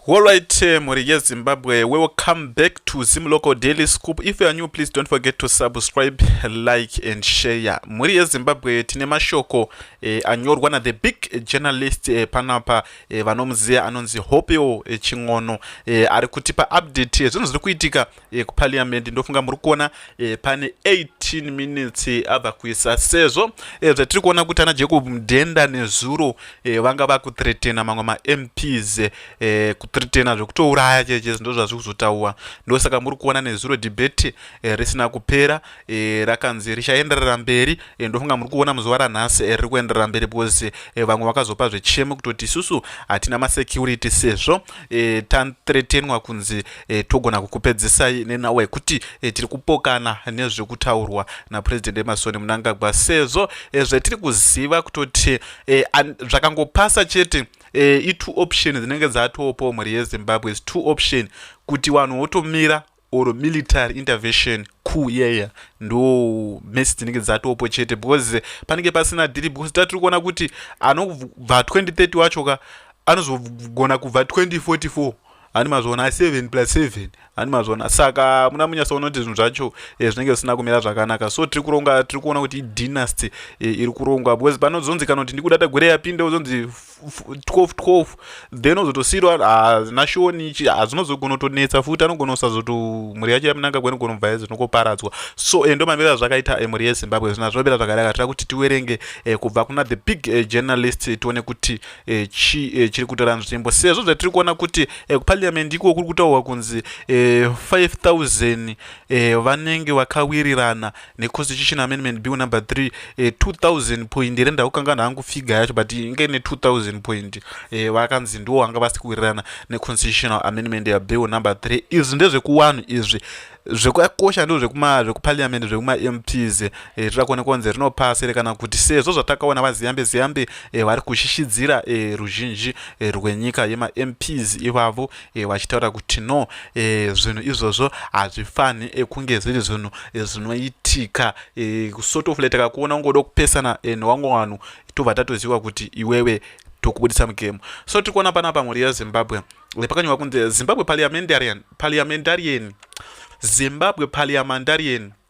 Alright, eh, mhuri yeZimbabwe, welcome back to Zim Local Daily Scoop. If you are new, please don't forget to subscribe, like and share. Mhuri yeZimbabwe, tine mashoko eh, anyorwa na the big journalist eh, panapa eh, vanomuziva anonzi Hopeo eh, Chin'ono eh, ari kutipa update yezvinhu eh, zviri kuitika e, kuparliament ndofunga muri kuona e, pane 18 minutes e, ava kuisa sezvo e, zvatiri kuona kuti ana jacob mudhenda nezuro e, vanga vakutretena mamwe mamps e, kutretena zvekutouraya cheche ndo zvazviri kuzotaura ndosaka muri kuona nezuro debate e, risina kupera e, rakanzi richaenderera mberi e, ndofunga muri kuona muzuva ranhasi e, riri kuenderera mberi because e, vamwe vakazopa zvechemo kutoti isusu hatina masecurity sezvo e, tantretenwa kunzi e, togona kukupedzisai nenawa yekuti e, tiri kupokana nezvekutaurwa napresident emasoni munangagwa sezvo e, zvetiri kuziva kutoti e, zvakangopasa chete e, itwo option dzinenge dzatopo mhuri yezimbabwe is two option kuti vanhu votomira or military intervention ku yeya ndo mesi dzinenge dzatopo chete because panenge pasina dhiri because tatiri kuona kuti anobva 2030 wacho ka anozogona kubva 2044 ani mazvona 7 plus 7 ani mazvona saka muna munyasaona kuti zvinhu zvacho eh, zvinenge zvisina kumira zvakanaka so tiri kuronga tiri kuona kuti idynasty eh, iri kurongwa because panozonzi kana kuti ndikuda tagwere yapinde uzonzi 12 12 then ozotosiirwa ah, nashoni ichi hazvinozogona ah, kutonetsa futi anogona kusazoto mhuri yacho yamunanga kwene gona kubva yazi zvinokoparadzwa so eh, ndo maviro azvakaita eh, mhuri yezimbabwe zvina zvinopera zvakanaka tira kuti tiwerenge eh, kubva kuna the big eh, journalist eh, tione kuti eh, chi eh, chiri kutora nzvimbo sezvo zvatiri kuona kuti eh, kupaliamendi iko kuri kutaurwa kunzi eh, 5000 eh, vanenge vakawirirana neconstitution amendment bill number 3 eh, 2000 point here ndakukanganwa hangu figa yacho but inge ne 2000 point eh, vakanzi ndiwo vanga vasi kuwirirana neconstitutional amendment yabill number 3 izvi ndezvekuwanhu izvi zvekakosha ndo zvekuparliament zvekumamps eh, zvoda kuona kwanzi rinopasi here kana kuti sezvo zvatakaona vaziyambe ziyambe eh, vari kushishidzira eh, ruzhinji rwenyika yemamps ivavo e, vachitaura kuti no e, zvinhu izvozvo hazvifanhi e, kunge zviri zvinhu e, zvinoitika e, sort of letaka kuona ungoda kupesana e, newamwe vanhu tobva tatoziva kuti iwewe tokubudisa mugemu so tiri kuona pana pamhuri yezimbabwe pakanyorwa kunzi zimbabwe parliamentarian parliamentarian zimbabwe parliamentarian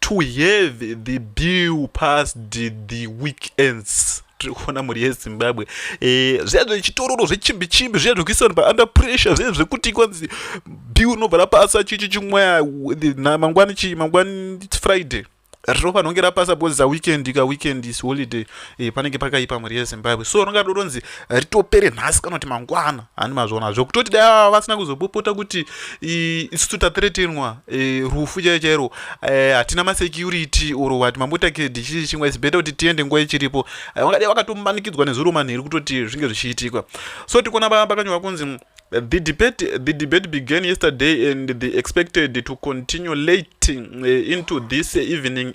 to have the bill past the weekends tiri kuona mhuri yezimbabwe eh, zviya zvechitororo zvechimbi chimbi zviya zvekuisa vanhu paunder pressure zviya zvekuti kwanzi bill unobva rapasa chichi chimweya mangwani chii mangwani friday ropa rinonge rapasa because a weekend ka weekend is holiday e, panenge pakaipa mhuri yezimbabwe so ringa doronzi ritopere nhasi kana kuti mangwana handi mazviona zvokutoti dai ava vasina kuzopopota kuti isusu tathretenwa e, rufu chaiyo chairo e, hatina masecurity or wati mambotakedi chii chimwe is better kuti tiende nguva ichiripo e, vangadai vakatomanikidzwa nezuro manheru kutoti zvinge zvichiitika so tikuona paa pakanyorwa kunzi the debate the debate began yesterday and they expected to continue late uh, into this evening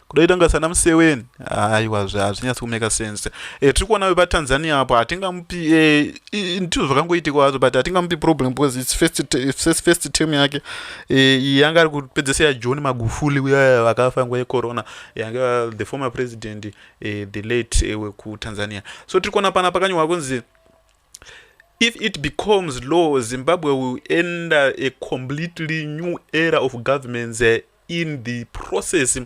kudai tanga sana museweni aiwa hazvinyatsi kumeka sense e, tiri kuona vepatanzania apo hatingamupi e, eh, ndizvo zvakangoitika hazvo but hatingamupi problem because its first, first, first term yake e, yanga ari kupedzesa yajohn magufuli uya vakafa nguva yecorona yanga the former president e, the late e, wekutanzania so tiri kuona pana pakanyorwa kunzi if it becomes law zimbabwe will enter a completely new era of governments uh, in the process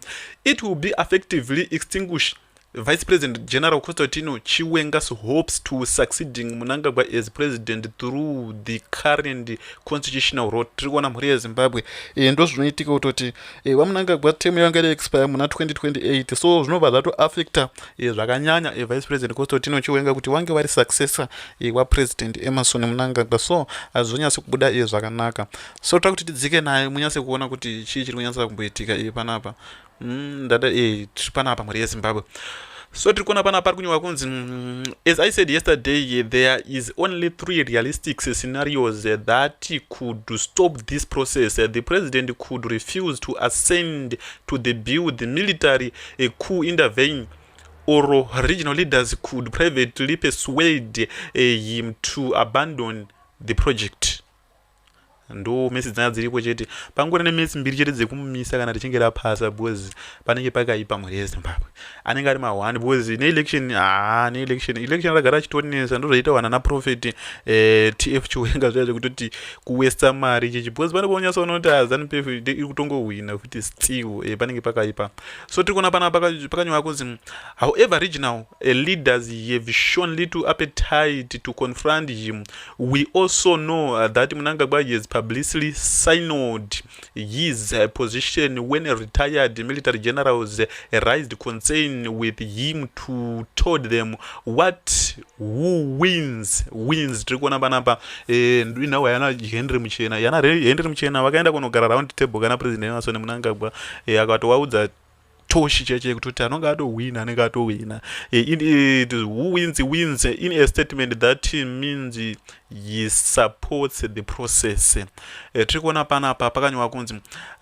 it will be effectively extinguish vice president general constantino chiwenga's hopes to succeeding munangagwa as president through the current constitutional road tiri kuona mhuri yezimbabwe e, ndo zvinoitika kutoti e, eh, vamunangagwa temu yavanga iri expire muna 2028 so zvinobva zvatoaffecta e, eh, zvakanyanya e, vice president constantino chiwenga kuti wange vari successor e, wapresident emerson munangagwa so hazvizonyasi kubuda e, zvakanaka so toda kuti tidzike naye munyatse kuona kuti chii chiri kunyatsa kumboitika iye panapa mm, ndada e tiri panapa mhuri yezimbabwe so tiri kuona panapa ari kunyorwa kunzi mm, as i said yesterday there is only three realistic scenarios that could stop this process the president could refuse to ascend to the bill the military a coup intervene or regional leaders could privately persuade eh, him to abandon the project ndo mesi dzanga dziripo chete pangori nemesi mbiri chete dzekumumisa kana richinge rapasa because panenge pakaipa mhuri yezimbabwe anenge ari mahwani because neelection haa neelection election ragara achitonesa ndozvaita wana naprofet eh, tf chiwenga zvaya zvekutoti kuwesta mari chichi because pane kuonyasa ona kuti azanupf ah, iri kutongohwina futi still eh, panenge pakaipa so tiri kuona pana pakanyorwa kunzi however regional eh, leaders have shown little appetite to confront him We also know uh, that Munangagwa has publicly signaled his uh, position when retired military generals uh, raised concern with him to told them what who wins wins tiri kuona panapa eh, ndinawo yana henry muchena yana henry muchena vakaenda kunogara round table kana president emasoni munangagwa eh, akatovaudza toshi chaicho yekutoti anonge atohwina anenge atohwina eh, who wins wins in a statement that means he supports the process eh, tiri kuona panapa pakanyorwa kunzi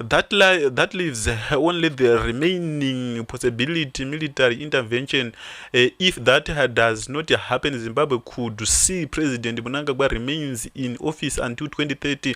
that, li that leaves only the remaining possibility military intervention eh, if that does not happen zimbabwe could see president munangagwa remains in office until 2030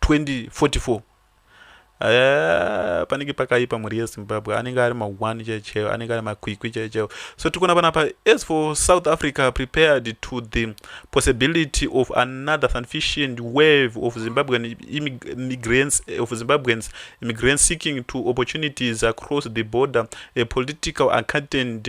2044 eh, panenge pakaipa mhuri yezimbabwe anenge ari ma1 chaicheo anenge ari makwikwi chaicheo so tiri kuona panapa as for south africa prepared to the possibility of another sufficient wave of zimbabwean immigrants of zimbabweans immigrants seeking to opportunities across the border a political accountant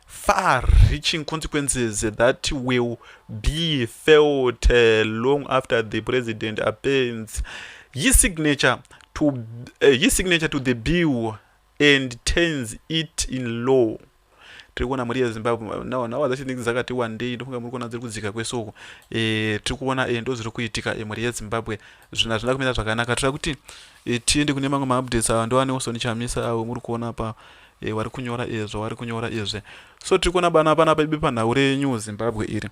far reaching consequences that will be felt uh, long after the president appends his signature to uh, his signature to the bill and turns it in law tiri kuona mari yezimbabwe now now dzacho dzinenge dzakati wandei ndofunga muri kuona dziri kudzika kwese uko e, tiri kuona e, ndo zviri kuitika e, mari yezimbabwe zvinhu hazvina kumira zvakanaka tira kuti e, tiende kune mamwe maupdates awa ndoane oso nichamisa awo muri kuona pa e, wari kunyora izvo wari kunyora izvi so tiri kuona bana pana paibe panhau renew zimbabwe iri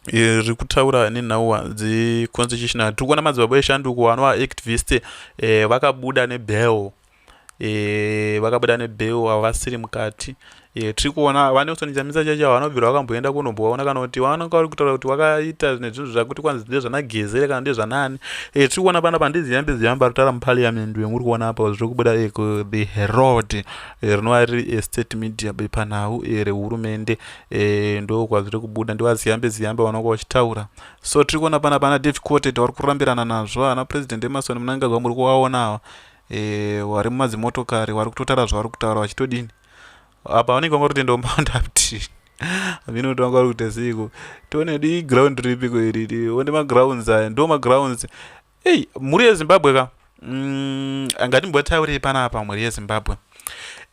e, riri kutaura nenhau dzeconstitutional tiri kuona madzibaba eshanduko vanova activist e, vakabuda nebell e, vakabuda nebell havasiri mukati e, tiri kuona vanelson chamisa chacho ava vanobvira vakamboenda kunombovaona kana kuti vanonga vari kutaura kuti vakaita nezvinhu zvakuti kwanzi ndezvanagezere kana ndezvanani Eh, tiri kuona panapa handiziva mbiziva mbarutara muparliament wenge uri kuona apa zviri kubuda eh, the herald eh, rinova riri estate media bepanhau rehurumende ndo kwazviri kubuda ndivaziyambe ziyambe vanonga vachitaura so tiri kuona panapa ana david cotet vari kurambirana nazvo ana president emasoni munangagwa muri kuvaona ava vari mumadzimotokari vari kutotara zvavari kutaura vachitodini apa vanenge vanga kuti ndomboenda kuti amino kuti vanga vari kuita seiko tione di ground ripiko iriri one magrounds aya ndo magrounds ei mhuri yezimbabwe ka mm, angatimbotaurei panapa mhuri yezimbabwe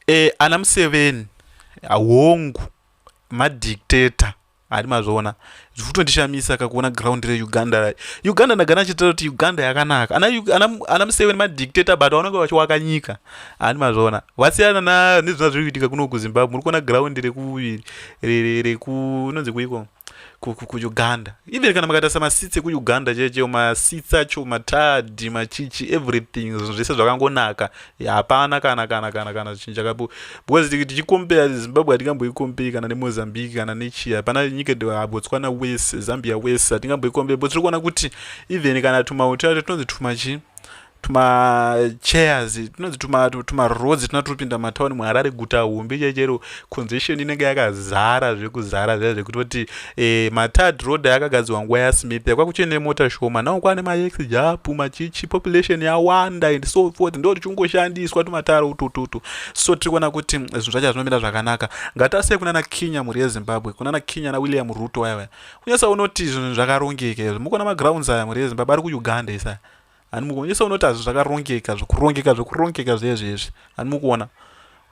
e, ana museveni hongu madictator Ari mazviona zvifutondishamisa kakuona ground re Uganda ra Uganda ndagana chitira kuti Uganda yakanaka ana ana, ana museveni ma dictator but vanenge vachiwaka nyika ari mazviona vasiyana na nezvina zviri kuitika kuno ku Zimbabwe muri kuona ground re ku re ku inonzi kuiko ku ku Uganda even kana makatarisa ma seats eku Uganda cheche ma seats acho ma tadi ma chichi everything zvese zvakangonaka hapana kana kana kana kana zvichinja kapo because tichikompera zimbabwe hatingamboikomperi kana nemozambique kana nechii hapana nyika botswana wese zambia wese hatingamboikomperi but tiri kuona kuti even kana tumauto yacho tinonzi tumachi tumachairs tinonzi tumaroads tuna turi kupinda matauni muharare guta hombe chaichero congestion inenge yakazara zvekuzara zviya zvekutoti e, matad road ayakagadzirwa nguva yasmith yakwa kuchine nemota shoma nao kwane maex japu machichi population yawanda and so forth ndo tichingoshandiswa tumataro utututu so tiri kuona kuti mm, zvinhu zvacho hazvinomira zvakanaka ngatasei kunana kinya mhuri yezimbabwe kunana kinya nawilliam ruto vaya vaya kunyasa unoti zvinhu zvakarongeka izvo mukuona magrounds aya mhuri yezimbabwe ari kuuganda isaya hani mukuonesa unoti hazvi zvakarongeka zvekurongeka zvekurongeka zvezvezvi hani mukuona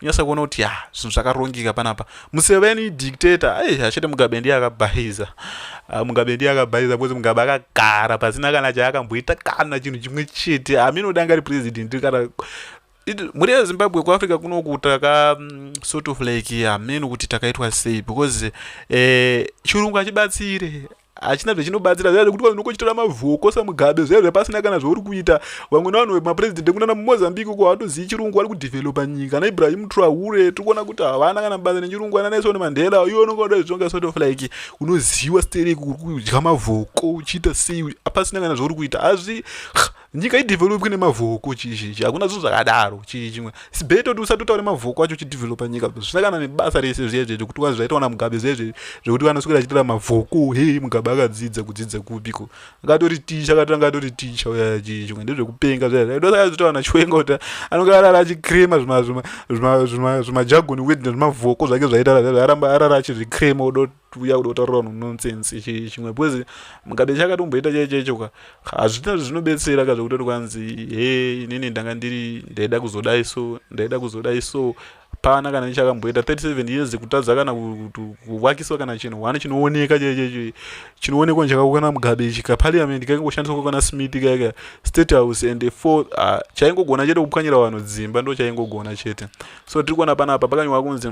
unyasa kuona kuti ya zvinhu zvakarongeka panapa museveni dictator ai hachete mugabe ndiye akabhaiza ah, mugabe ndiye akabhaiza because mugabe akagara pasina kana chaakamboita kana chinhu chimwe chete aminodanga ri president kana mhuri yezimbabwe kuafrica kunoku taka mm, sort of like hameno kuti takaitwa sei because eh, chirungu hachibatsire hachina zvechinobatsira zviya zvekuti vanhu unokochitora mavhoko samugabe zviya zvepasina kana zvauri kuita vamwe navanhu vemapurezidendi ekunana mumozambique uko havatozivi chirungu vari kudhivhelopa nyika ana ibrahim traure tiri kuona kuti havana kana basa nechirungu ana naison mandela iwe unonga uda zvizvonga sort of like unoziva stereki uri kudya mavhoko uchiita sei apasina kana zvauri kuita hazvi nyika idevelopwe nemavoko chii chii hakuna zvinhu zvakadaro chii chimwe sibee toti usati utaure mavoko acho uchidevelopa nyika zvisina kana nebasa rese zviya zvezvo kuti kwanzi zvaitawana mugabe zviya zvezvo zvekuti vanoswera achitora mavoko he mugabe akadzidza kudzidza kupiko akatori ticha akatanga atori ticha uya chii chimwe ndezvekupenga zviya zviya ndosaka zvitawana chiwenga kuti anonge arara achicrema zvimajagoni wed nezvimavoko zvake zvaitaura zviya zvaaramba arara achizvicrema udoti kuuya kuda kutaurira vanhu nonsense ichi chimwe because mukabe chakatomboita chai chaicho ka hazvina zvinobetsera ka zvekutoti kwanzi he inini ndanga ndiri ndaida kuzodai so ndaida kuzodai so pana kana ichakamboita 37 years kutadza kana kuvakiswa kana chinhu hwana chinooneka chai chaicho chinoonekwa chakakwana mugabe ichi ka parliament kakangoshandiswa kwakwana smith kaika state house and four ah, chaingogona chete kupwanyira vanhu dzimba ndo chaingogona chete so tiri kuona panapa pakanyorwa kunzi